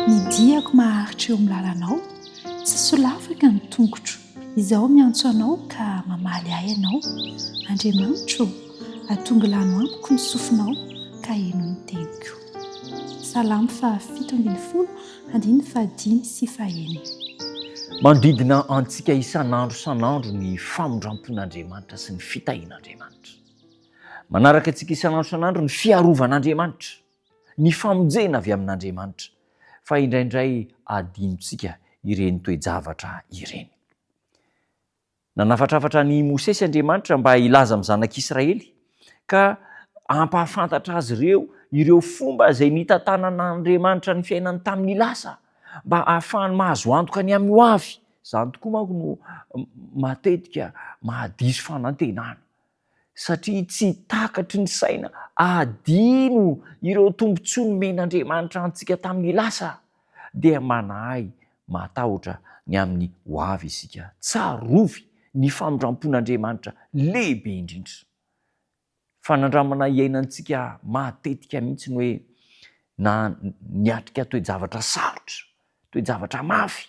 Ny diako maharitra eo amin'ny lalanao, tsy solafaka ny tongotro, izaho miantso anao ka mamaly ahy ianao, Andriamanitro ô, atongilano amiko ny sofinao ka heno ny teniko. Salamo fahafito ambin'ny folo, andininy fahadimy sy fahenina. Manodidina antsika isan'andro isan'andro ny famindram-pon'Andriamanitra sy ny fitahian'Andriamanitra. Manaraka antsika isan'andro isan'andro ny fiarovan'Andriamanitra, ny famonjena avy amin'Andriamanitra, fa indraindray adinontsika ireny toe-javatra ireny. Nanafatrafatra an'i Mosesy Andriamanitra mba hilaza amin'ny zanak'Israely ka hampahafantatra azy ireo ireo fomba izay nitantanan'Andriamanitra ny fiainany tamin'ny lasa, mba hahafahany mahazo antoka ny amin'ny hoavy. Izany tokoa manko no matetika mahadiso fanantenana. satria tsy takatry ny saina hadino ireo tombontsoa nomen'Andriamanitra antsika tamin'ny lasa, dia manahy matahotra ny amin'ny ho avy isika. Tsarovy ny famindrampon'Andriamanitra lehibe indrindra. Fanandramana iainantsika matetika mihitsy ny hoe na niatrika toe-javatra sarotra Toe-javatra mafy,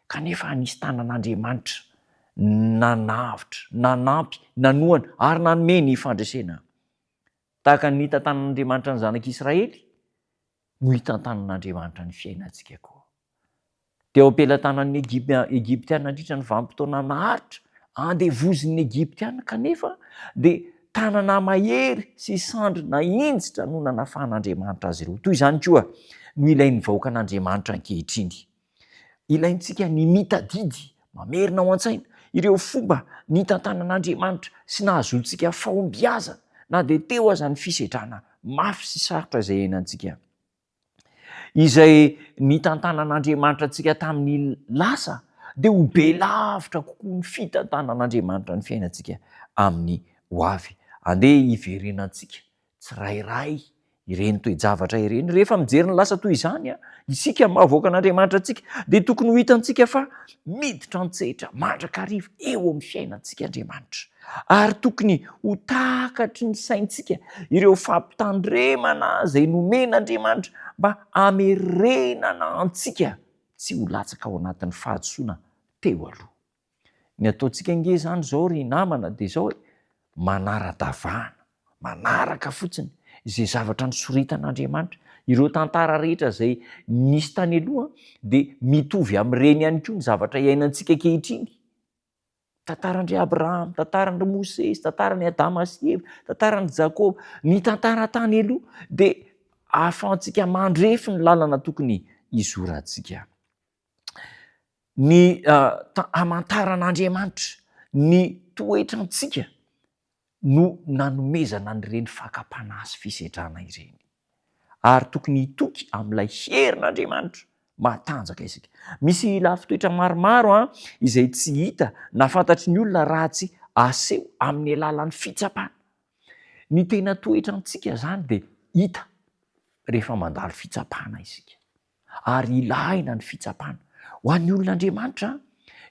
kanefa anisy tanan'Andriamanitra nanavotra, nanampy, nanohana ary nanome ny fandresena. Tahaka ny nitantanan'Andriamanitra ny Zanak'i Israely no hitantanan'Andriamanitra ny fiainantsika koa. Teo am-pelatanan'ny Egyptiana nandritra ny vanim-potoana naharitra andevozin'ny Egyptiana kanefa dia Tanana mahery sy sandry nahinjitra no nanafahan'Andriamanitra azy ireo. Toy izany koa no ilain'ny vahoakan'Andriamanitra ankehitriny. Ilaintsika ny mitadidy, mamerina ao an-tsaina, ireo fomba nitantanan'Andriamanitra sy nahazoantsika fahombiazana, na dia teo aza ny fisedrana mafy sy sarotra izay iainantsika. izay nitantanan'Andriamanitra antsika tamin'ny lasa dia ho be lavitra kokoa ny fitantanan'Andriamanitra ny fiainantsika amin'ny ho avy. Andeha hiverenantsika tsirairay ireny toe-javatra ireny. Rehefa mijery ny lasa toy izany isika maha vahoakan'Andriamanitra antsika dia tokony ho hitantsika fa miditra an-tsehatra mandrakariva eo amin'ny fiainantsika Andriamanitra. Ary tokony ho takatry ny saintsika ireo fampitandremana izay nomen'Andriamanitra mba hamerenana antsika tsy ho latsaka ao anatin'ny fahadisoana teo aloha. Ny ataontsika ange izany izao ry namana dia izao e, manara-davana, manaraka fotsiny izay zavatra nosoritan'Andriamanitra. Ireo tantara rehetra izay nisy tany aloha dia mitovy amin'ireny ihany koa ny zavatra iainantsika ankehitriny. Tantaran-dry Abraham, tantaran-dry Mosesy, tantaran'i Adama sy Eva, tantaran'i Jakoba, ny tantara tany aloha dia ahafahantsika mandrefy ny lalana tokony hizorantsika. Ny hamantaran'Andriamanitra ny toetrantsika no nanomezana an'ireny fakam-panahy sy fisedrana ireny. Ary tokony hitoky amin'ilay herin'Andriamanitra mahatanjaka isika. Misy lafin-toetra maromaro izay tsy hita na fantatry ny olona raha tsy aseho amin'ny alalan'ny fitsapana. Ny tena toetrantsika izany dia hita rehefa mandalo fitsapana isika. ary ilahina ny fitsapana. Ho an'ny olon'Andriamanitra,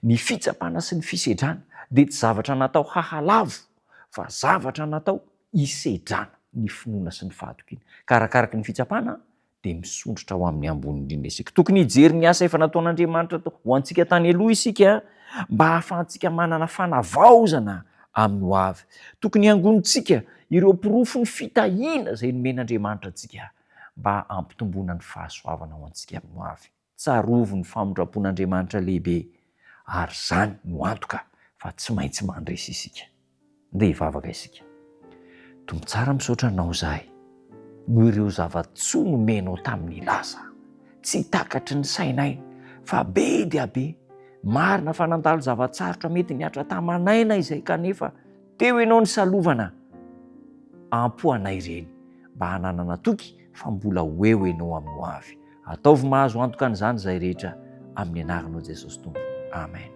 ny fitsapana sy ny fisedrana dia tsy zavatra natao hahalavo, fa zavatra natao hisedrana ny finoana sy ny fahatokiana. Ka arakaraky ny fitsapana, dia misondrotra ho amin'ny ambony indrindra isika. Tokony hijery ny asa efa nataon'Andriamanitra ho antsika tany aloha isika, mba hahafahantsika manana fanavaozana amin'ny hoavy. Tokony hangonintsika ireo porofon'ny fitahiana izay nomen'Andriamanitra antsika. mba hampitomboana ny fahasoavana ho antsika amin'ny hoavy. Tsarovy ny famindram-pon'Andriamanitra lehibe ary izany no antoka fa tsy maintsy mandresy isika. Ndeha hivavaka isika. Tompo tsara misaotra Anao izahay noho ireo zava-tsoa nomenao tamin'i Lasa. Tsy takatry ny sainay fa be dia be. Marina fa nandalo zava-tsarotra mety nihatra taman'aina izay kanefa Teo ianao nisalovana am-po anay ireny mba hananana toky fa mbola ho eo ianao amin'ny ho avy. Ataovy mahazo antoka an'izany izahay rehetra amin'ny anaranao Jesosy Tompo. Amen.